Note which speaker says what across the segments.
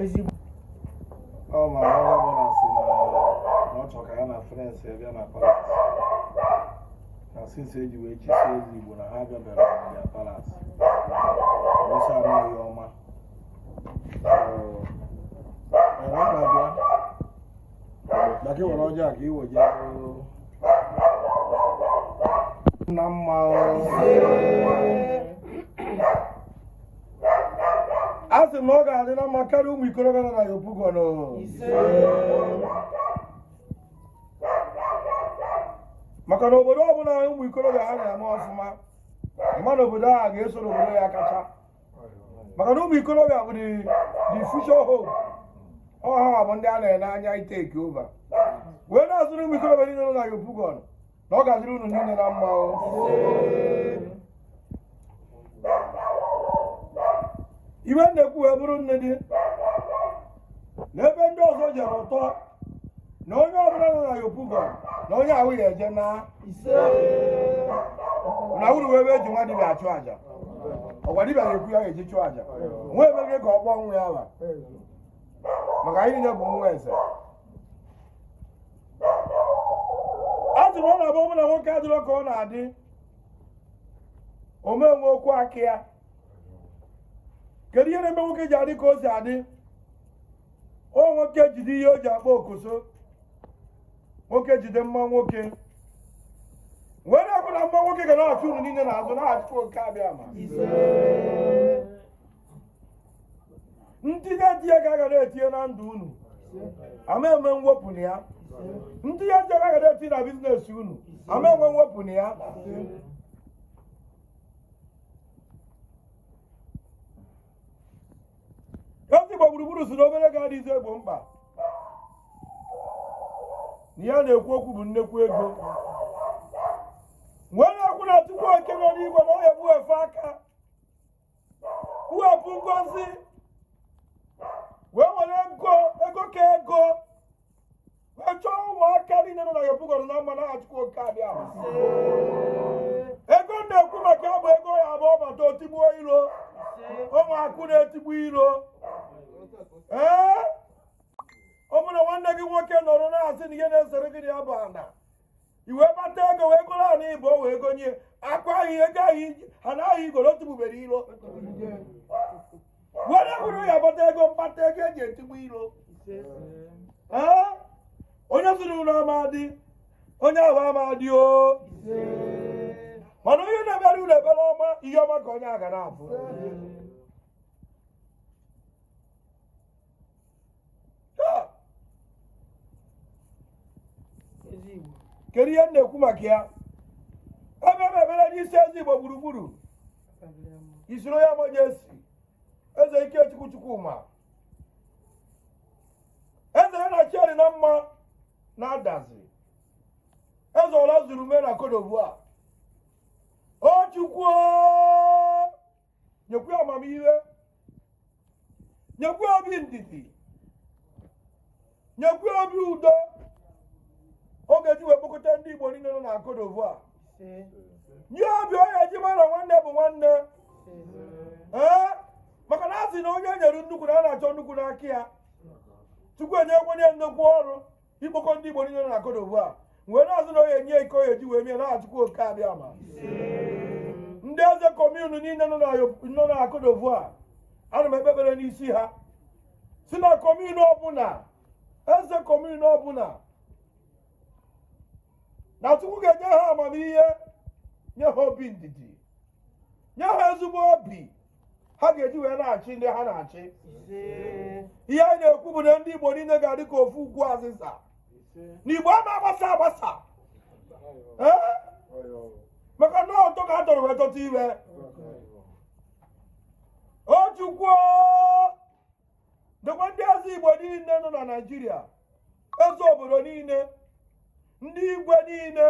Speaker 1: eze
Speaker 2: igbo ọ ma onye ọbụla si na ọ chọrọ ka ya na friends ya bịa na palace na since e ji wee chie eze igbo na ha bịabara na ya palace ọsọ anaghị ọma ọwa na-abịa na gị were ọjọọ ka iwe je na mma a sị m na ọ ga-adị na mma karịa ụmụ ikorobịa nọ na yopougon maka na obodo ọbụla ụmụ ikorobịa ha na-eme ọfụma ị ma na obodo a ga-eso n'obodo ya kacha maka na ụmụ ikorobịa bụ the the future hope ọ ha bụ ndị a na-ele anya ị take over wee na-azụrụ ụmụ ikorobịa niile nọ na yopougon na ọ ga-adịrị unu niile na mma o iwe na-ekwu wee bụrụ nne dị n'ebe ndị ọzọ jere ụtọ na onye ọbụla nọ na yopougon na onye ahụ ya eje na na uru wee ebe e ji nwa dibịa achụ aja ọ kwa dibịa na-ekwu ihe a ga-eji chụọ aja nwa ebe gị ka ọ kpọọ nwa ya ala maka anyị niile bụ ụmụ eze a sị m ọ na-abụ bụ na nwoke adịrọ ka ọ na-adị ọ ma enwe okwu aka ya kedu ihe na-eme nwoke ji adị ka o si adị ọ nwoke jide ihe o ji akpọ okoso nwoke jide mma nwoke wee na-ekwu na mma nwoke ga na-achụ unu niile n'azụ n'aha chukwu oke abịama ntinye ntinye ka a ga na-etinye na ndụ unu a ma eme mwepụ na ya ntinye ntinye ka a ga na-etinye na business unu a ma enwe mwepụ na ya eze igbo gburugburu sị na obere ego adịzị egbo mkpa na ihe na-ekwu okwu bụ nnekwu ego wee na-ekwu na chukwu oke nọ n'igwe na ọ ya egbu efe aka kwuwepụ ngozi wee were ego ego ka ego wee chọọ ụmụaka niile nọ na yopougon na mma n'aha chukwu oke abịama ego m na-ekwu maka ya bụ ego ya bụ ọ bata o tigbuo iro ọ bụ akụ na-etigbu iro ee ọ bụrụ na nwanne gị nwoke nọrọ na-asị na ihe na-esere gị na ya bụ ana i webata ego wee goro ana Igbo wee gonye akwa ahụ ihe ego ahụ iji- ha naghị igoro tụbubere iro were bụrụ ya bata ego mkpata ego eji etigbu iro Ee? onye zụrụ ụlọ amadị onye ahụ amadị o mana onye na-ekpere ụlọ ekpere ọma ihe ọma ka onye a ga na-abụ kedu ihe m na-ekwu maka ya ekpee m ekpere n'isi eze igbo gburugburu His Royal Majesty eze ikechukwu chukwuma eze ya na chieri na mma na adazi eze ọra zuru me na Côte d'Ivoire o chukwu nyekwa amamihe nyekwa obi ndidi nyekwa obi udo ọ ga-eji wee kpokọta ndị igbo niile nọ na Côte d'Ivoire nye obi ọ ya-eji mara nwanne bụ nwanne ee maka na a sị na onye e nyere nnukwu na a na-achọ nnukwu n'aka ya chukwu enyewo ya nnukwu ọrụ ikpokọ ndị Igbo niile nọ na Côte d'Ivoire wee na-asị na ọ ya-enye ike ọ ya-eji wee mie na Chukwu oke abịama ndị eze commune niile nọ na Côte d'Ivoire ana m ekpe ekpere n'isi ha sị na commune ọbụla eze commune ọbụla na Chukwu ga-enye ha amamihe nye ha obi ndidi nye ha ezigbo obi ha ga-eji wee na-achị ndị ha na-achị ihe anyị na-ekwu bụ na ndị Igbo niile ga-adị ka ofu ukwu azịza na Igbo ama agbasa agbasa maka na ọtọ ka a tọrọ wee tọta ire o chukwu dekwa ndị eze igbo niile nọ na naịjirịa eze obodo niile ndị igwe niile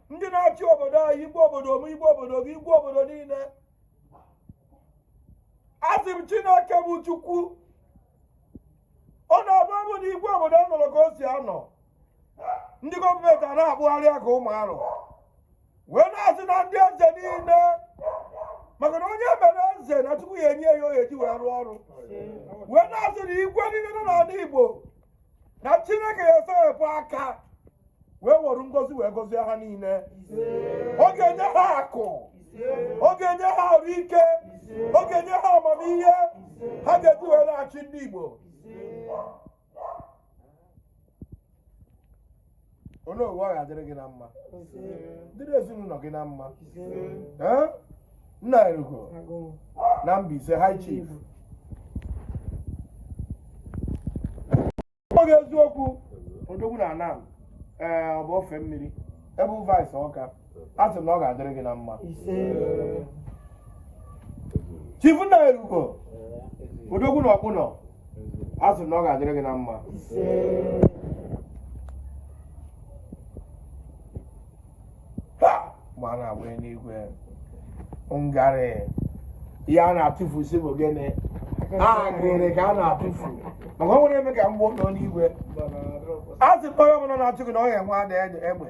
Speaker 2: ndị na-achị obodo anyị igwe obodo m igwe obodo gị igwe obodo niile asị m chineke bụ chukwu ọ na-abụ abụ na igwe obodo anọrọ ka o si anọ ndị gọọmenti a na-akpụgharị ya ka ụmụ arọ wee na-asị na ndị eze niile maka na onye e mere eze na chukwu ya-enye ya ihe ọ ya-eji wee rụọ ọrụ wee na-asị na igwe niile nọ n'ala igbo na chineke ya-esewepụ aka wee were ngozi wee gozie ha niile ọ ga-enye ha akụ ọ ga-enye ha arụ ike ọ ga-enye ha amamihe ha ga-eji wee na-achị ndị igbo onye owu ọ ga-adịrị gị na mma dịrị ezinụlọ gị na mma Ee? nna erugo na Mbaise high chief oge eziokwu odogwu na Anam ee ọ bụ ofe mmiri ebe vice ọka a sị m na ọ ga-adịrị gị na mma chief nna erugo odogwu na Ọkpụnọ a sị m na ọ ga-adịrị gị na mma ha ma na-agba n'igwe ngarị ihe a na-atụfu si bụ gịnị agịrị ka a na-atụfu maka ọ nwere eme ka mgbe nọ n'igwe a sị m onye ọbụla na-achụ gị na ọ ya-enwe ada egbe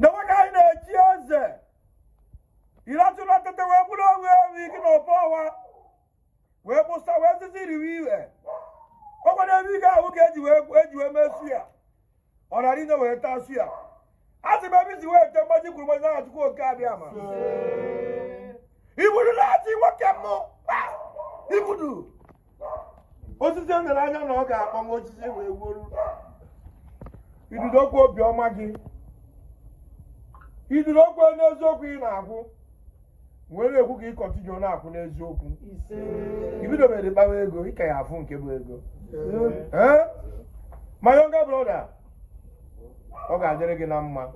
Speaker 2: na nwoke anyị na-echi eze iratụla tete wee bụrụ onwe ewu ike na ọbọ ọwa wee kpụsa wee sịsị riwe iwe ọkwa n'ebe ike ahụ ka eji wee mee suya ọ nara ine wee taa suya a sị m ebe isi wee te mgbaji kwuru mgbaji na Chukwu oke abịama ibudu na-achị nwoke m ibudu osisi o nyere anya na ọ ga-akpọ m osisi wee gwuru idudo okwu obiọma gị idudo okwu n'eziokwu ị na-akwụ wee na-ekwu ka ị continue na-akwụ n'eziokwu i bidobere kpawa ego ị ka ya-afụ nke bụ ego Ee? my younger brother ọ ga-adịrị gị na mma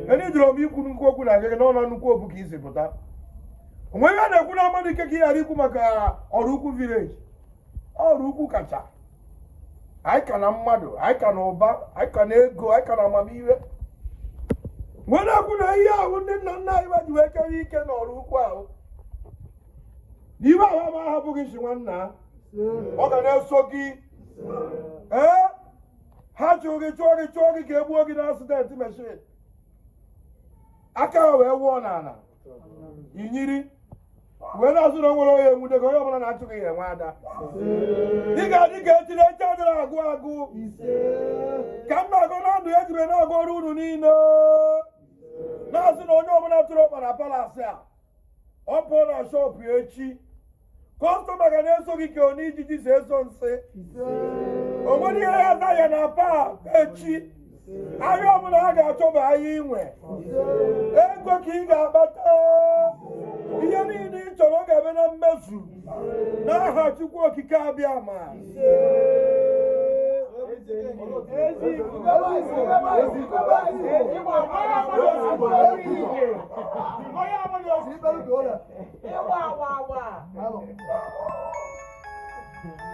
Speaker 2: ndị jụrụ m ikwu nnukwu okwu na gị n'ụlọ nnukwu obu ka i si pụta o nwe ihe a na-ekwu na mmadụ ike ka ị ghara ikwu maka ọrụ ukwu village ọrụ ukwu kacha anyị ka na mmadụ anyị ka na ụba anyị ka na ego anyị ka na amamihe wee na-ekwu na ihe ahụ ndị nna nna anyị ji wee kewe ike n'ọrụ ukwu ahụ na ihe ahụ ama ahapụ gị si nwanna. ọ ga na-eso gị ee ha chụọ gị chụọ gị chụọ gị ka e gbuo gị n'accident machine aka ha wee wụọ n'ala inyiri wee na-asị na o nwerọ onye ya-enwude gị onye ọbụla na-achụ gị ya-enwe ada ị ga-adị ka echi na echi adịrọ agwụ agwụ ka m na-agọ na ndụ ejiri na-agọrọ unu niile na-asị na onye ọbụla tụrụ ọkpa na palace a ọ pụọ na shọpụ echi customer ga na-eso gị ka onye ijiji si eso nsị o nwere ihe ya na ya na paa echi ahịa ọbụla ha ga-achọ bụ ahịa inwe ego ka ị ga-akpata ihe niile ị chọrọ ọ ga-abịa na mmezu n'aha Chukwu Okike Abịama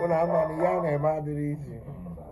Speaker 2: unu ama na ihe a na-eme adịrọ easy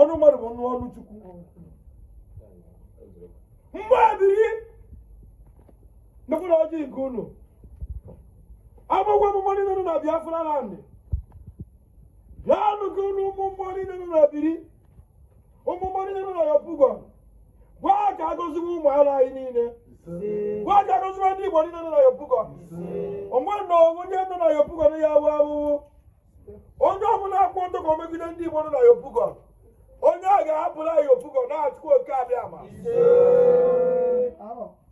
Speaker 2: ọnụ mmadụ bụ ọnụ chukwu mgbe adịghị nekwana ọjị nke unu agbagwa mmụọ niile nọ na Biafra land bịanụ gị unu ụmụ mmụọ niile nọ na biri ụmụ mmụọ niile nọ Yopougon gwa ha ka agọziwe ụmụ ala anyị niile gwa ha ka agọziwe ndị igbo niile nọ na Yopougon onwe na onye nọ na Yopougon ya awụ awụwụ onye ọbụla akwụ ọtọ ka o megide ndị igbo nọ na Yopougon onye a ga-ahapụla Yopougon n'aha Chukwu Oke Abịama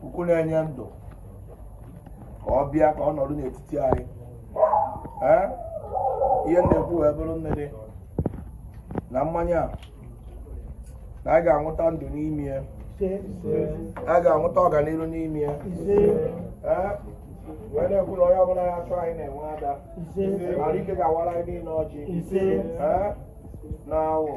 Speaker 2: Chukwu na-enye ndụ ka ọ bịa ka ọ nọrọ n'etiti anyị ee ihe m na-ekwu wee bụrụ nke dị na mmanya a na a ga-aṅụta ndụ n'ime ya a ga-aṅụta ọganihu n'ime ya ee wee na-ekwu na onye ọbụla ya chọọ anyị na-enwe ada mara ike ga-awara anyị niile ọjị ee na awọ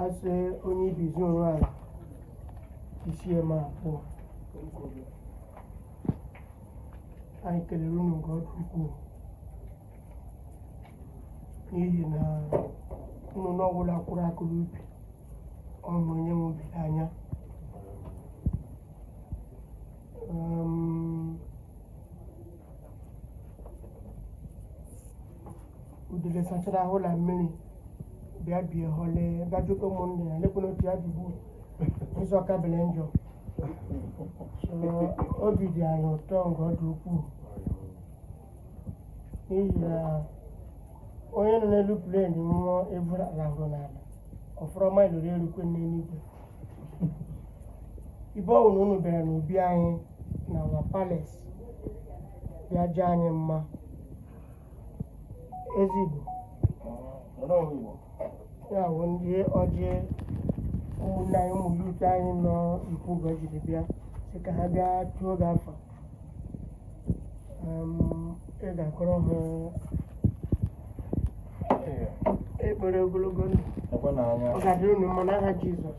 Speaker 2: a sị onye ibizi onwe ala isi eme abụọ anyị kelere unu nke ọ dị ukwuu
Speaker 1: n'ihi na nnụnụ ọbụla kwụrụ akwụ n'ubi ọ bụ onye nwe ubi nwe ya udele sachara ahụ na mmiri bịa bie hole bịa jụta ụmụnne ya lekwana otu ya dịbu ụzọ ka bele njọ so obi dị anyị ụtọ nke ọ dị ukwuu n'ihi na onye nọ n'elu plane nwụọ eburu rahụrụ n'ala ọ fọrọ mile iri erukwe n'eluigwe ebe ọ wụ na unu bịara n'obi anyị na our palace ya dị anyị mma Eze Igbo ya bụ ndị ọjị ụmụnne anyị ụmụ youth anyị nọ Yopougon jiri bịa sị ka ha bịa tụọ gị afa Em, ị ga-akọrọ ha ekpere ogologo ndụ ọ ga-adịrị unu mma n'aha Jizọs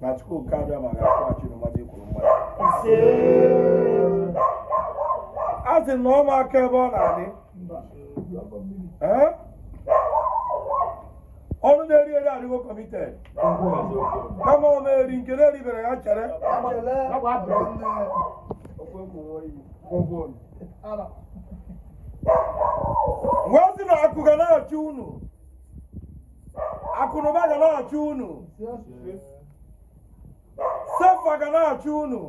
Speaker 2: na Chukwu oke Abịama ga-akwụghachi na mmadụ ikwuru mmadụ a sị na ọma aka ebe ọ na-adị ọnụ na-eri eri adịgo committed kama ọ na-eri nke na-eribere ya chere wee sị na akụ ga na-achụ unu akụnụba ga na-achụ unu CFA ga na-achụ unu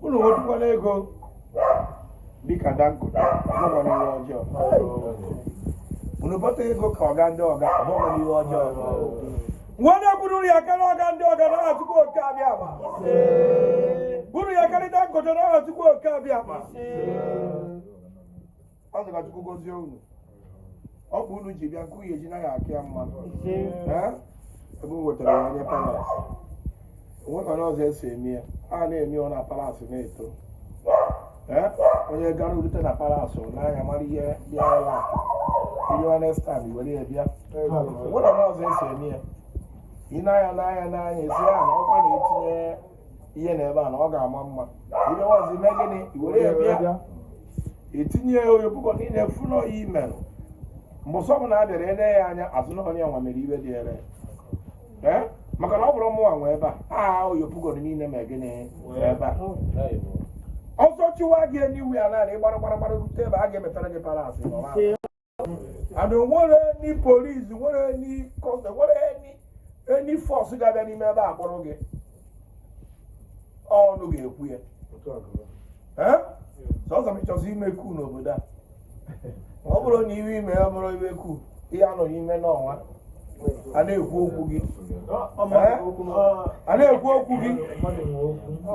Speaker 2: unu nwetukwanụ ego dịka Dangote ọ bụkwanụ ihe ọjọọ unu bute ego ka ọga ndị ọga ọ bụkwanụ ihe ọjọọ Nwanne buru ya karịa ọga ndị ọga n'aha Chukwu oke Abịama. Buru ya karịa Dangote n'aha Chukwu oke Abịama. A sị ka Chukwu gozie unu. Ọ bụ unu ji bịa nke onye ji naghị aka ya mma nụ. Ee? Ebe o wetara ya nye palace. o nwekwanụ ụzọ e si eme ya a na-eme ọ na palace na-eto onye gara rute na palace n'anya mara ihe bịa ala ihe next time were ya bịa o nwekwanụ ụzọ e si eme ya ị na-anya n'anya n'anya a sị ya na ọkwa na-etinye ihe na ebe a na ọ ga-ama mma ị bịa ọzọ i mee gịnị were ya bịa e tinye ya Yopougon niile fụ na ọ gị mere mgbe ọzọ ọbụla a bịara ele ya anya a sị na onye nwa mere ihe dị ere ee maka na ọ bụrụ mụnwa nwe ebe a a Yopougon niile ma gịnị nwe ebe a ọsọ chụwa gị anywhere naanị gbara gbara gbara rute ebe a ga-emepere gị palace and nwere any police nwere any custom nwere any any force ga-abịa n'ime ebe a kpọrọ gị ọnụ ga-ekwu ya Ee? sọsọ ma ị chọzi ime coup n'obodo a ọ bụrụ na ihe i mere abụrọ ihe coup ị ya-anọ n'ime ụnọ nwa a na-ekwu okwu gị a na-ekwu okwu gị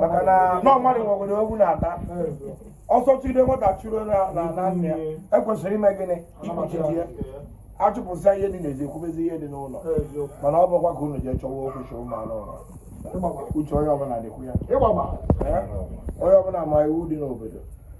Speaker 2: maka na nọ mmadụ nwekwara okwu na-ata ọsọ chụde nwata chụrụ na na nne ya e kwesịrị ime gịnị ikpuchite ya a chụpụsịa ihe dị n'ezi e kwubezie ihe dị n'ụlọ mana ọ bụkwa ka unu jee chọwa okwu chọọ ụmụ anụ ụlọ uche onye ọbụla dịkwa ya onye ọbụla ma iwu dị n'obodo